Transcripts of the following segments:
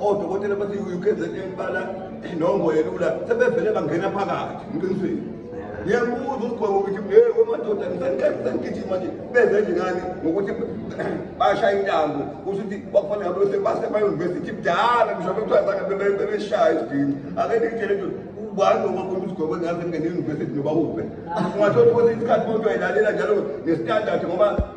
odokotela bathi ukzn bala inongo yelula sebevele bangena phakathi ngiqinisile ngiyakubuza ukugweba ukuthi hey wemadoda ngisanigijima nje beze nje ngani ngokuthi bashaya intambo kusho ukuthi kwakufanele ngabe bese basemayunivesithi kudala ngisho bekuthiwa zange bebeshaya isigini ake ndikutshele nje ubani ongabona usigwebo ngaze ngene eyunivesithi noba uphe ungathola ukuthi isikhathi bonke wayilalela njalo ngesitandard ngoba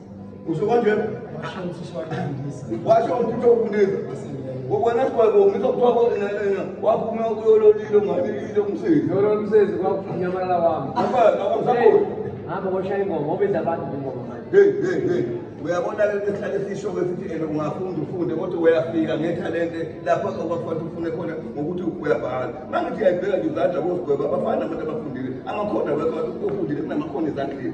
Usho kanje? Washo umthetho wokunika. Wena sibaba ngitho kuthiwa kodwa waphuma uyololile ungalilile umsebenzi. Yololo umsebenzi kwakunyamalala wami. Abana akusakho. Hamba ngoshaya ingoma obenza abantu ingoma manje. Hey hey hey. Uyabona lento esihlale sisho ke sithi ene ungafunda ufunde kodwa uyafika ngethalente lapho okwakufanele ufune khona ngokuthi uyabhala. Mangithi uyayibheka nje izandla kosigweba abafana abantu abafundile. Amakhona wekho ofundile kunamakhono ezandleni.